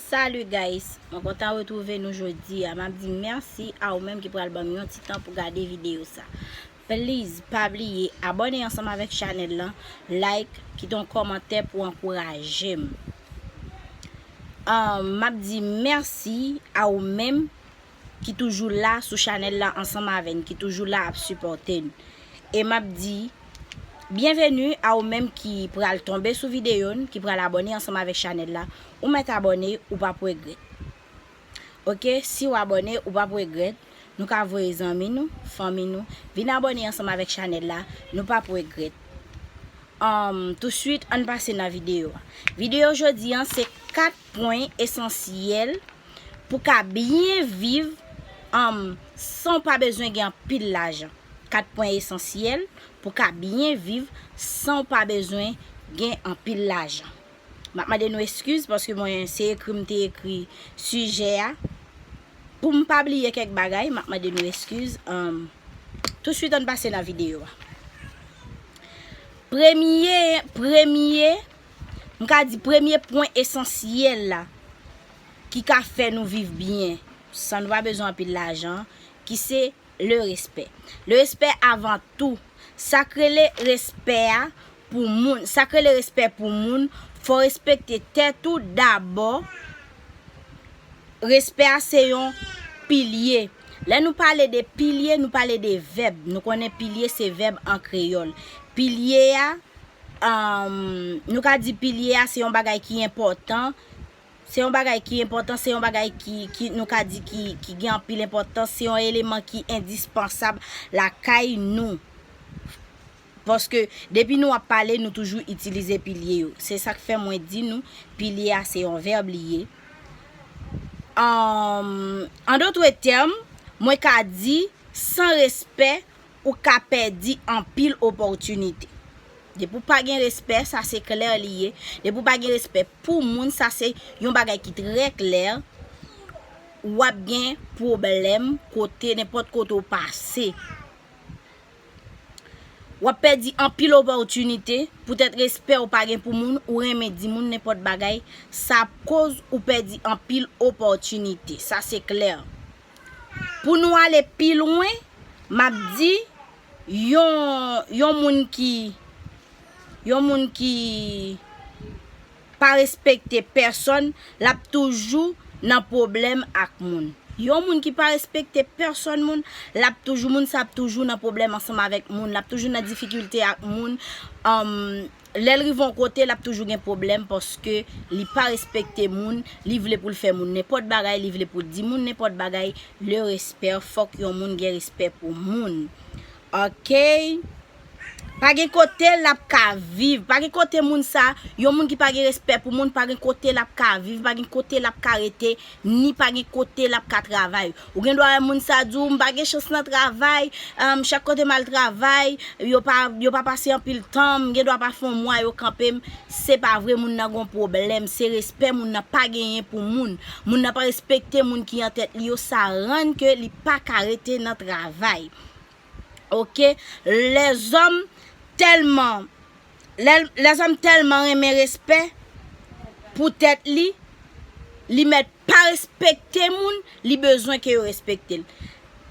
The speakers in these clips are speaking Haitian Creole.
Salut guys, mwen kontan retrouve nou jodi a, map di merci a ou menm ki pral banm yon ti tan pou gade video sa. Please pa bliye abone ansanm avèk chanèl lan, like, kite yon kòmantè pou ankourajem. Map di merci a ou menm. ki toujou la sou chanèl la ansanm avè n ki toujou la ap sipòte n e m ap di byenveni a ou menm ki pral tonbe sou videyo n ki pral abòne ansanm avèk chanèl la ou mèt abòne ou p ap regrèt ok si w abòne ou p ap regrèt nou ka voye zanmi nou fanmi nou vin abòne ansanm avèk chanèl la nou p ap regrèt anm tousuit ann pase nan videyo a videyo jodi an se 4 pwen esansyèl Pou ka byen viv anm san w pa bezwen gen anpil lajan. 4 pwen esansyèl pou ka byen viv san w pa bezwen gen anpil lajan. M ap mande nou eskiz paske mwen se ekri m te ekri sijè a. Pou m pa bliye kèk bagay, m ap mande nou eskiz. Tousuit ann pase nan videyo a. Premye, premye, m ka di premye pwen esansyèl la. ki ka fè nou viv byen san nou pa bezwen anpil lajan, ki se le respè. Le respè avan tou. Sa k rele respè a pou moun, sa k rele respè pou moun, fò w respekte tèt ou dabò, respè a se yon pilye. Lè nou pale de pilye, nou pale de vèb, nou konnen pilye se vèb an kreyòl. Pilye a, nou ka di pilye a se yon bagay ki enpòtan, Se yon bagay ki enpòtan, se yon bagay ki nou ka di ki gen anpil enpòtans, se yon eleman ki endispansab lakay nou. Paske depi nou ap pale nou toujou itilize pilye yo. Se sak fè mwen di nou pilye a se yon vèb li ye. An dotre tèm, mwen ka di san respè ou ka pèdi anpil opòtinite. Depi w pa gen respè, sa se klè li ye, depi w pa gen respè pou moun, sa se yon bagay ki trè klè, w ap gen pwoblèm kote, nenpòt kote w pase. W ap pèdi anpil opòtinite, poutèt respè ou pa gen pou moun, ou renmen di moun nenpòt bagay, sa ap koz ou pèdi anpil opòtinite, sa se klè. Pou nou ale pi lwen, m ap di, yon, yon moun ki, yon moun ki pa respekte pèsòn, l ap toujou nan pwoblèm ak moun. Yon moun ki pa respekte pèsòn moun, l ap toujou, moun sa ap toujou nan pwoblèm ansanm avèk moun, l ap toujou nan difikilte ak moun. Lèl rive yon kote lap toujou gen pwoblèm paske li pa respekte moun, li vle poul fè moun nenpòt bagay, li vle poul di moun nenpòt bagay, le respè fòk yon moun gen respè pou moun ok pa gen kote lap ka viv, pa gen kote moun sa, yon moun ki pa gen respè pou moun pa gen kote lap ka viv, pa gen kote lap ka rete Ni pa gen kote l ap ka travay. Ou gen dwa wè moun sa di w, m pa gen chans nan travay, chak kote m al travay, yo pa pase anpil tan, m gen dwa pa fè yon mwa yo kanpe m. Se pa vre moun nan gen yon pwoblèm, se respè moun nan pa genyen pou moun. Moun nan pa respekte moun ki an tèt li yo, sa rann ke li pa ka rete nan travay. Ok, lèzòm tèlman Lèzòm tèlman renmen respè pou tèt li, li mèt pa respekte moun, li bezwen ke yo respekte l.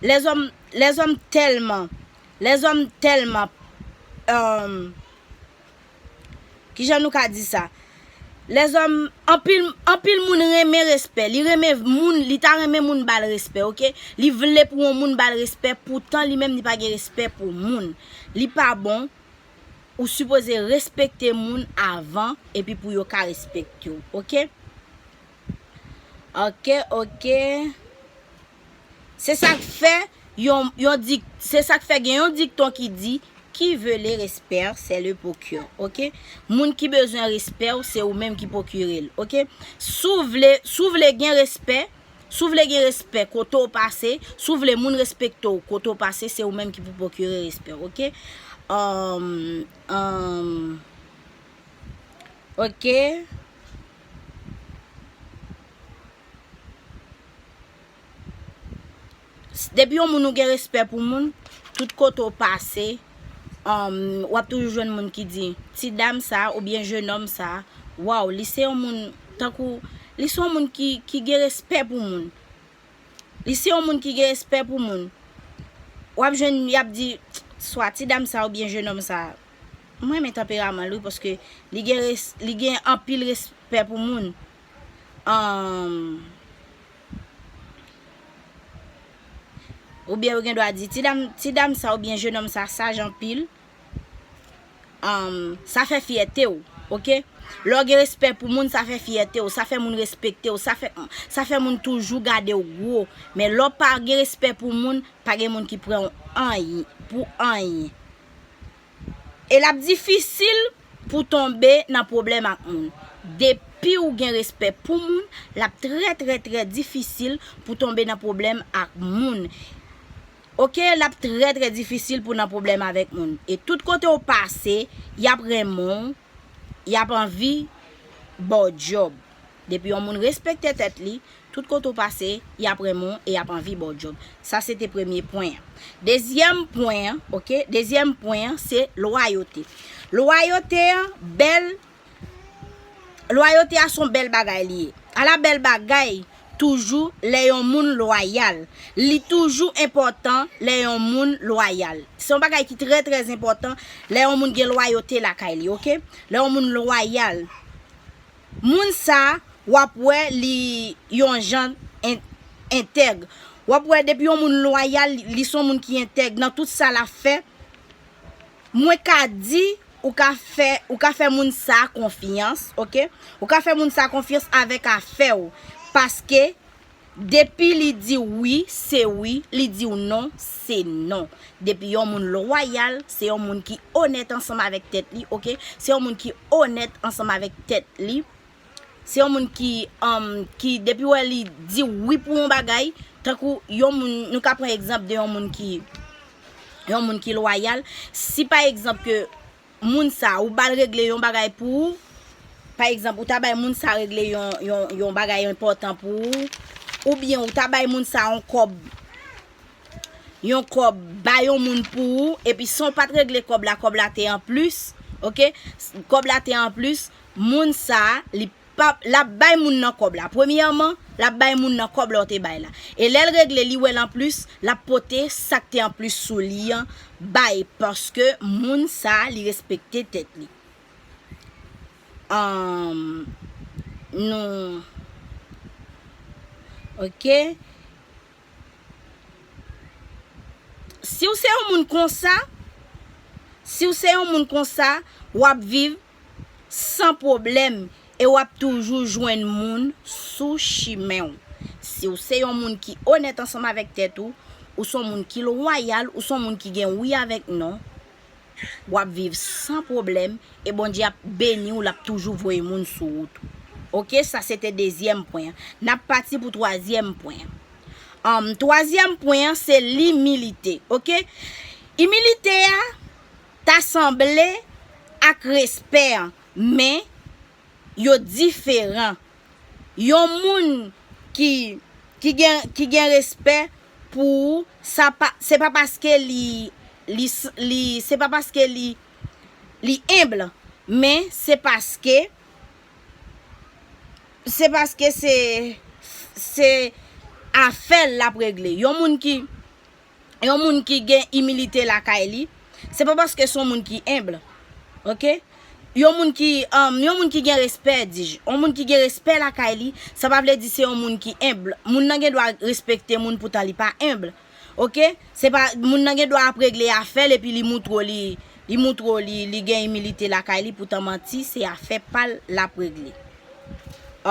Lèzòm tèlman, lèzòm tèlman, emm, kijan nou ka di sa? Lèzòm, anpil moun renmen respè, li renmen moun, li ta renmen moun ba l respè, ok? Li vle pou yon moun ba l respè, poutan li menm li pa gen respè pou moun. Li pa bon, Ou sipoze respekte moun avan epi pou yo ka respekte w ok. Ok ok Se sak fè yon di se sak fè gen yon dikton ki di Qui veut le respect c'est le procure ok Moun ki bezwen respè w se ou menm ki pwokire l ok Si w vle si w vle gen respè Si w vle gen respè kote w pase, si w vle moun respekte w kote w pase se ou menm ki pou pwokire respè w ok ok. Depi yon moun ou gen respè pou moun, tout kote ou pase, ou ap toujou jwenn moun ki di, ti dam sa a oubyen jenòm sa a, waw li se yon moun tankou, li se yon moun ki gen respè pou moun. Li se yon moun ki gen respè pou moun. Ou ap jwenn y ap di, swa ti dam sa a oubyen jenòm sa a, m renmen tanperaman l wi paske li gen anpil respè pou moun. Oubyen yo gen dwa di, ti dam sa oubyen jenòm sa saj anpil, sa fè fyète w, ok. Lè w gen respè pou moun, sa fè fyète w, sa fè moun respekte w, sa fè moun toujou gade w gwo. Men lè w pa gen respè pou moun, pa gen moun ki pran w pou anyen. E lap difisil pou tonbe nan pwoblèm ak moun. Depiw gen respè pou moun, lap trè trè trè difisil pou tonbe nan pwoblèm ak moun. Ok lap trè trè difisil pou nan pwoblèm avèk moun. E tout kotew pase, yap renmenw. yap anvi baw djob depi yon moun respekte tèt li tout kote ou pase yap renmen w e yap anvi baw djob sa se te premye pwen an dezyèm pwen an ok dezyèm pwen an se lwayote lwayote an bèl lwayote a son bèl bagay li ye ala bèl bagay Toujou lè yon moun lwayal. Li toujou enpòtan lè yon moun lwayal. Se yon bagay ki trè trè enpòtan lè yon moun gen lwayote lakay li ok. Lè yon moun lwayal. Moun sa w ap wè li yon jan entèg. W ap wè depi yon moun lwayal li se yon moun ki entèg nan tout sa l ap fè. Mwen ka di ou ka fè ou ka fè moun sa konfyans ok ou ka fè moun sa konfyans avèk afèw paske depi li diw wi se wi li diw non se non depi yon moun lwayal se yon moun ki onèt ansanm avèk tèt li ok se yon moun ki onèt ansanm avèk tèt li Se yon moun ki um ki depiw wè li diw wi pou yon bagay, tankou yon moun nou ka pran egzanp de yon moun ki yon moun ki lwayal, si pa egzanp ke moun sa ou bal regle yon bagay pou ou, pa egzanp ou ta bay moun sa regle yon yon yon bagay enpòtan pou ou, oubyen ou ta bay moun sa yon kòb yon kòb ba yon moun pou ou epi san w pat regle kòb la kòb la te anplis ok kòb la te anplis Moun sa li pap lap bay moun nan kòb la premyèman lap bay moun nan kòb la ou te bay la e lèl regle li wèl anplis lap pote sak te anplis sou li an bay paske moun sa li respekte tèt li humm nou ok. Si w se yon moun konsa, si w se yon moun konsa, w ap viv san pwoblèm e w ap toujou jwenn moun sou chimen w. Si w se yon moun ki onèt ansanm avèk tèt ou, ou se yon moun ki lwayal, ou se yon moun ki gen wi avèk non, wap viv san pwoblèm e Bondye ap beniw lap toujou voye moun sou wout ou ok sa se te dezyèm pwen an nap pati pou twazyèm pwen an humm twazyèm pwen an se limilite ok imilite a ta sanble ak respè an men yo diferan. Yon moun ki ki gen ki gen respè pou ou sa pa se pa paske li li li se pa paske li li enbl men se paske se paske se se afèl lap regle. Yon moun ki. yon moun ki gen imilite lakay li, se pa paske son moun ki humble. Ok? Yon moun ki um yon moun ki gen respè dij, yon moun ki gen respè lakay li, sa pa vle di se yon moun ki humble. Moun nan gen dwa respekte moun poutan li pa humble. Ok? Se pa moun nan gen dwa ap regle afè l epi li moutre w li li moutre w li li gen imilite lakay li poutan manti se afè pa l lap regle.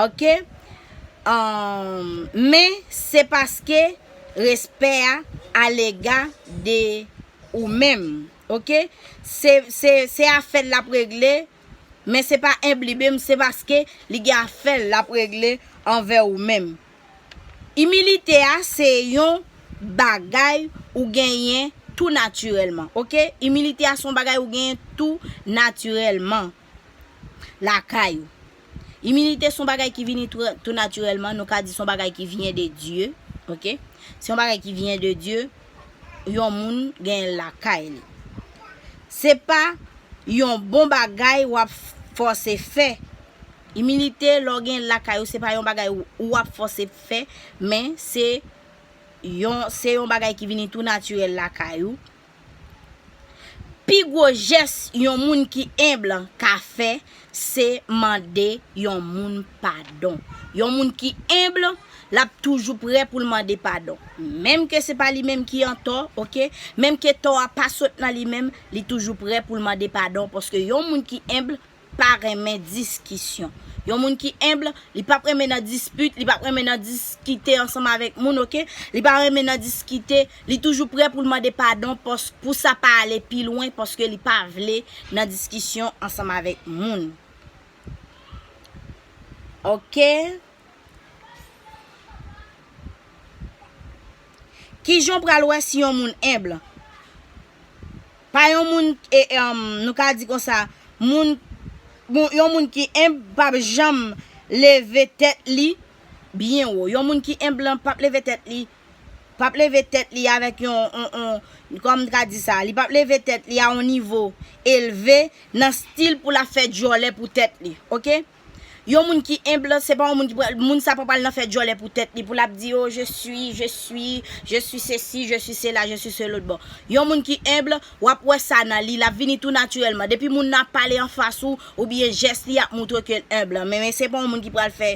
Ok? Um men se paske respè a alega de ou menm ok se afèl lap regle men se pa enblibem se paske li gen afèl lap regle anvè ou menm imilite a se yon bagay ou genyen tou natirèlman ok imilite a son bagay ou genyen tou natirèlman. lakay ou. Imilite son bagay ki vini tou natirèlman, nou ka di son bagay ki vyen de Dye, ok. Se yon bagay ki vyen de Dye, yon moun gen lakay li. Se pa yon bon bagay w ap fòse fè. Imilite lè w gen lakay ou se pa yon bagay ou ap fòse fè, men se yon bagay ki vini tou natirèl lakay ou, Pi gwo jès yon moun ki enb ka fè se mande yon moun padon. Yon moun ki enb, l ap toujou prè pou l mande padon. Menm ke se pa li menm ki antò, oke, menm ke tò a pa sot nan li menm, li toujou prè pou l mande padon paske yon moun ki enb pa renmen diskisyon. Yon moun ki humble, li pap renmen nan dispute, li pap renmen nan diskite ansanm avèk moun ok, li pa renmen nan diskite, li toujou prè poul mande padon pòs pou sa pa ale pi lwen paske li pa vle nan diskisyon ansanm avèk moun ok. Kijan w pral wè si yon moun humble? Pa yon moun nou ka di konsa moun yon moun ki enb pap janm leve tèt li byen wo yon moun ki enb lan pap leve tèt li pap leve tèt li avèk yon kòman m ka di sa li pap leve tèt li a yon nivo elve nan stil pou l ap fè djòlè pou tèt li ok. Yon moun ki humble se pa yon moun ki pral, moun sa pa pral nan fè djòlè pou tèt li pou lap di oh je suis, je suis, je suis ceci, je suis cela, je suis ce l'autre bon. Yon moun ki humble, wap wè sa nan li, lap vini tou naturellement. Depi moun nan ap pale anfas ou, oubyen jès li ap moutre kel humble. Men men se pa yon moun ki pral fè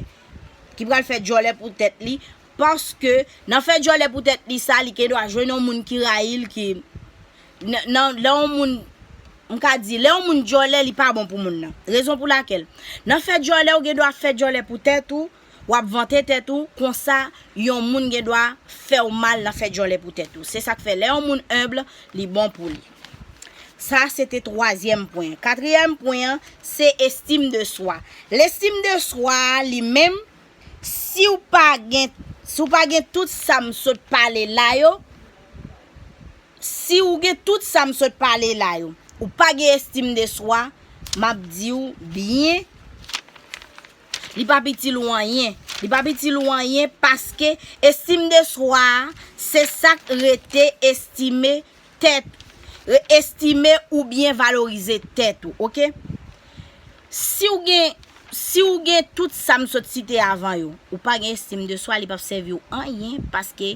ki pral fè djòlè pou tèt li paske nan fè djòlè pou tèt li sa li gendwa jwenn yon moun ki rayil ki Nan, lè yon moun, m ka di, lè yon moun djòlè li pa bon pou moun nan. Rezon pou lakèl, nan fè djòlè ou gen dwa fè djòlè pou tèt ou, w ap vante tèt ou, konsa yon moun gen dwa fè w mal nan fè djòlè pou tèt ou. Se sa k fè lè yon moun humble, li bon pou li. Sa se te twazyèm pwen an. Katriyèm pwen an, se estime de soi. Lestime de swa a li menm, si w pa gen, si w pa gen tout sa m sot pale la yo, Si ou gen tout sa m sot pale la yo, ou pa gen estim de swa, m ap di ou byen, li p ap itil ou anyen. Li p ap itil ou anyen paske estim de swa a, se sa k rete estime tèt, estime oubyen valorize tèt ou, ok? Si ou gen, si ou gen tout sa m sot site avan yo, ou pa gen estim de swa, li p ap sèvi ou anyen paske.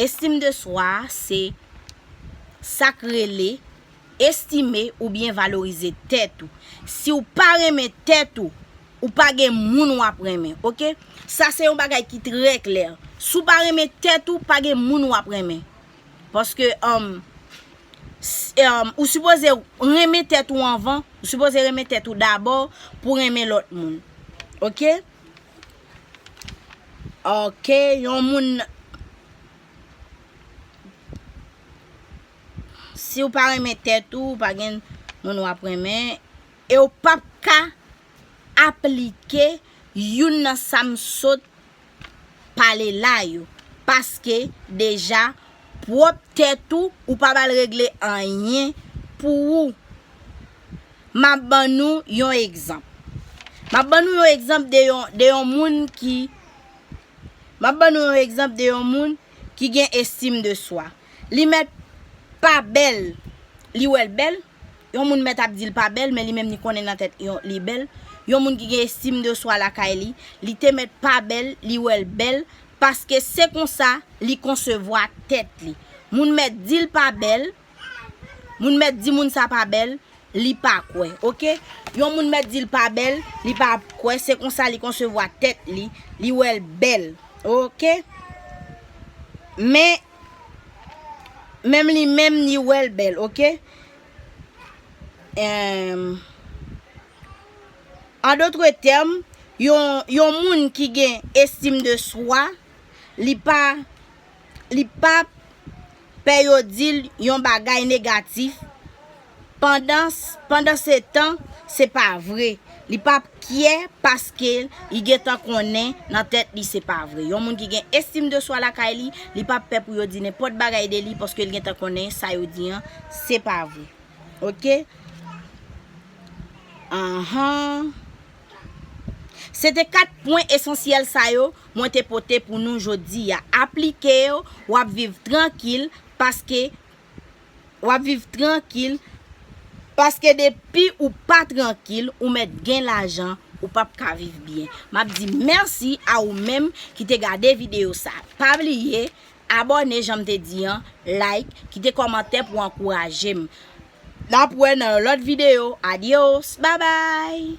Estim de swa a se sa k rele estime oubyen valorize tèt ou. Si w pa renmen tèt ou, ou pa gen moun w ap renmen. Ok? Sa se yon bagay ki trè klè. Si w pa renmen tèt ou, pa gen moun w ap renmen. Paske, ou sipoze renmen tèt ou anvan, ou sipoze renmen tèt ou dabò pou renmen lòt moun. Ok? Ok yon moun Siw pa renmen tèt ou pa gen moun wap renmen Ew pap ka aplike youn nan sam sot pale la yo paske deja pwòp tèt ou ou pa bal regle anyen pou ou. M ap ban nou yon egzanp. M ap ban nou yon egzanp de yon moun ki, m ap ban nou yon egzanp de yon moun ki gen estim de swa. Li mèt pa bèl, li wè l bèl, yon moun mèt ap di l pa bèl men li menm li konnen nan tèt li bèl. Yon moun ki gen estim de swa lakay li, li te mèt pa bèl, li wè l bèl, paske se konsa li konsevwa tèt li. Moun mèt di l pa bèl, Moun mèt di moun sa pa bèl, li pa kwè. Ok? Yon moun mèt di l pa bèl, li pa kwè, se konsa li konsevwa tèt li, li wè l bèl. Ok? Men, menm li menm li wè l bèl. Ok? Emm. An dotre tèm, yon moun ki gen estim de swa, li pa li pa pè yo di l yon bagay negatif pandan se tan se pa vre, li pa p kyè paske li gen tan konnen nan tèt li se pa vre. Yon moun ki gen estim de swa lakay li, li pa p pè pou yo di nenpòt bagay de li paske li gen tan konnen sa yo di an se pa vre. Ok? Anhan. Se te 4 pwen esansyèl sa yo mwen te pote pou nou jodi a. Aplike yo, w ap viv trankil paske w ap viv trankil paske depi ou pa trankil ou mèt gen lajan ou p ap ka viv byen. M ap di mèsi a ou menm ki te gade videyo sa. Pa bliye abòne jan m te di an, like, kite kòmantè pou ankouraje m. N ap wè nan yon lòt videyo. Adios! Babay!